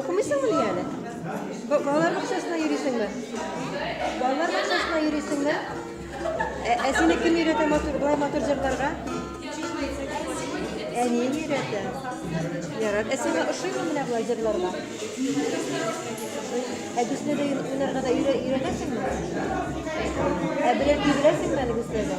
Укымыйсыңмы әле? Балалар бакчасына йөрисеңме? Балалар бакчасына йөрисеңме? Ә, ә сине кем өйрәтә матур, былай матур җырларга? Әниең өйрәтә. Ярар. Ә сиңа ошыймы менә болай җырларга? Ә Гүснә дә уйнарга да өйрә- өйрәнәсеңме? Ә берәр тибрәсеңме әле Гүснәгә?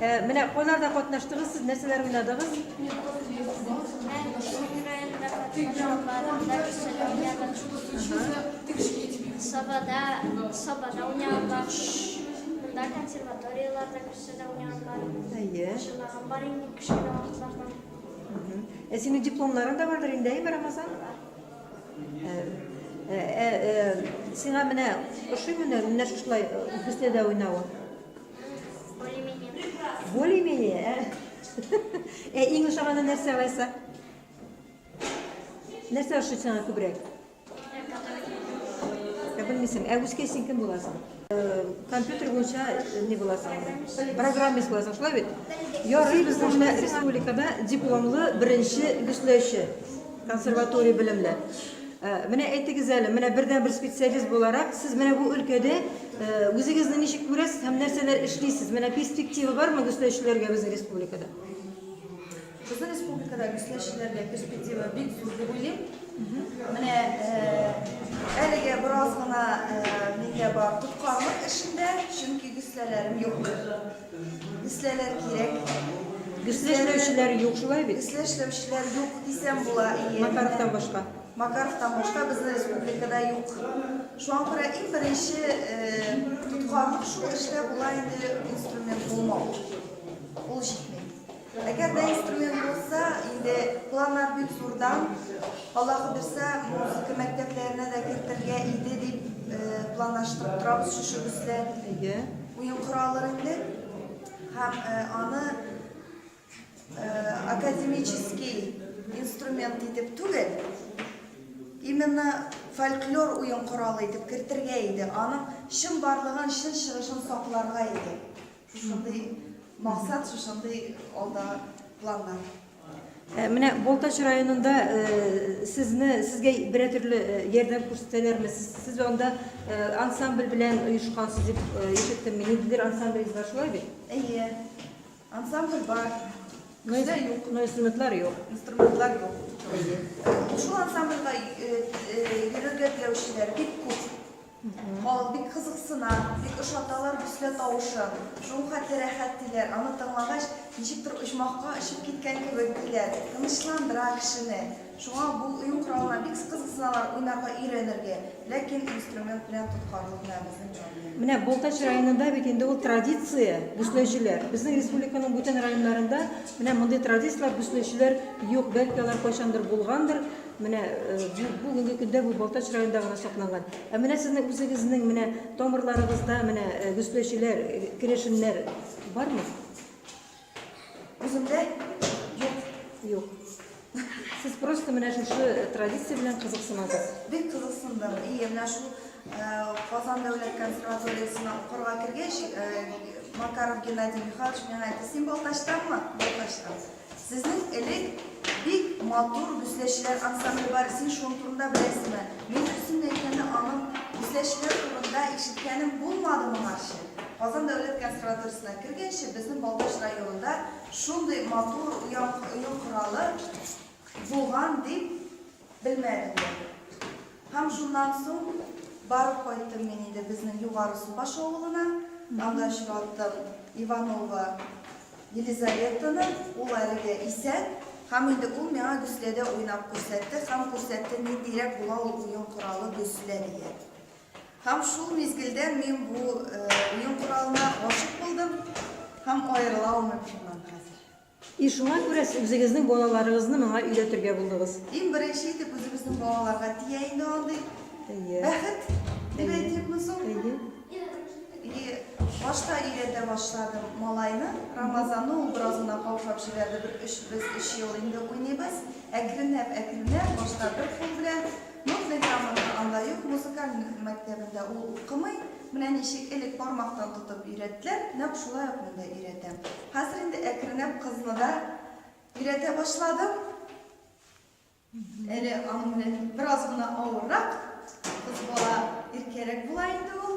Ә, менә кайларда катнаштыгыз, сез нәрсәләр уйнадыгыз? Сабада, сабада уйнаган бар. Монда консерваторияларда күрсәтә уйнаган бар. Әйе. Шуннан бар инде кешеләр вакытлардан. Ә синең дипломларың да бардыр инде, әйме, Рамазан? Ә, ә, ә, ә, сиңа менә ошыймы менә шушылай беседа уйнавы? Более-менее. Более-менее, ә? Ә иң ошаганы нәрсә алайса? Нәрсә ошый сиңа күбрәк? Ә белмисең, ә үскәй син кем буласың? Э, компьютер буенча э, не буласың. Программист буласың, шулай бит? Ярый, безнең менә республикада дипломлы беренче гөсләүче. Консерватория белемле. Э, менә әйтегез әле, менә бердән бер специалист буларак, сез менә бу өлкәдә э, үзегезне ничек күрәсез һәм нәрсәләр эшлисез? Менә перспектива бармы гөсләүчеләргә безнең республикада? Безнең республикада гөсләүчеләргә перспектива бик зур дип уйлыйм. Менә э, әлегә бераз гына миндә бар тоткарлык эшендә, чөнки гөсләләрем юк. Бисләләр кирәк. Бислә эшләүчеләр юк, шулай бит? Бислә эшләүчеләр юк дисәм була. Макаровтан башка. Макаровтан башка безнең республикада юк. Шуңа күрә иң беренче э, тоткарлык шул эштә була инде инструмент булмау. Ул җитми. Әгәр дә инструмент булса, инде планнар бик зурдан, Алла кудерса, музыка мәктәпләренә дә кертергә иде дип планлаштырып торабыз шушы бездә. Әйе. Уен кораллар инде һәм аны академический инструмент итеп түгел, именно фольклор уен коралы итеп кертергә иде, аның чын барлыгын, чын чыгышын сакларга иде. Шушындый максат, шушындый алда планнар. Ә, менә Балтач районында ә, сезне, сезгә берә төрле ә, ярдәм күрсәтәләрме? Сез анда ә, ансамбль белән оешкансыз дип ә, ишеттем. Мин инде ансамбль бар шулай бит? Әйе. Ансамбль бар. Но инде юк. Но инструментлар юк. Инструментлар юк. Шул ансамбльгә йөрергә теләүчеләр бик күп. Халык бик кызыксына, бик ошаталар Буслә тавышы, шул хәтле рәхәт, диләр, аны тыңлагач, ничектер оҗмахка очып киткән кебек, диләр, тынычландыра кешене. Шуңа бу уен коралына бик скызыксыналар, уйнарга өйрәнергә, ләкин инструмент белән тоткарлык менә безнең проблема. Менә Балтач районында бит инде ул традиция, Бусләчеләр. Безнең республиканың бүтән районнарында менә мондый традицияләр, Бусләчеләр юк, бәлки алар кайчандыр булгандыр. Менә бүгенге көндә бу Балтач районында гына сакланган. Ә менә сезнең үзегезнең менә тамырларыгызда менә гөсләчеләр, керәшеннәр бармы? Үземдә юк. Юк. Сез просто менә шушы традиция белән кызыксынасыз. Бик кызыксындым. И, менә шул Казан дәүләт консерваториясенә укырга кергәч, Макаров Геннадий Михайлович миңа әйтте, син Балтачтанмы? Балтачтан. Сезнең элек бик матур гөсләчеләр ансамбле бар, син шуның турында беләсеңме? Мин дөресен әйткәндә, аның гөсләчеләр турында ишеткәнем булмады моңарчы. Казан дәүләт консерваториясенә кергәнче, безнең Балтач районында шундый матур уен коралы булган дип Белмәдем дә. Һәм шуннан соң барып кайттым мин инде безнең Югары Субаш авылына, анда очраттым Иванова Елизаветаны, ул әлегә исән, һәм инде ул миңа гөсләдә уйнап күрсәтте һәм күрсәтте ниндирәк була ул уен коралы гөслә дигән. Һәм шул мизгелдән мин бу уен коралына гашык булдым һәм аерыла алмыйм шуннан хәзер. И шуңа күрә сез үзегезнең балаларыгызны моңа өйрәтергә булдыгыз. Иң беренче итеп үзебезнең балаларга тия инде андый бәхет дип әйтимме соң? И башта өйрәтә башладым малайны, Рамазанны ул бераз гына каушап җибәрде, бер өч, без өч ел инде уйныйбыз, әкренләп, әкренләп, башта бер кул белән, Нур Зәйтамовның анда юк, музыкаль мәктәбендә ул укымый. Менә ничек элек бармактан тотып өйрәттеләр, нәкъ шулай ук мин дә өйрәтәм. Хәзер инде әкренләп кызны да өйрәтә башладым. Әле аның белән бераз гына авыррак, кыз бала иркәрәк була инде ул.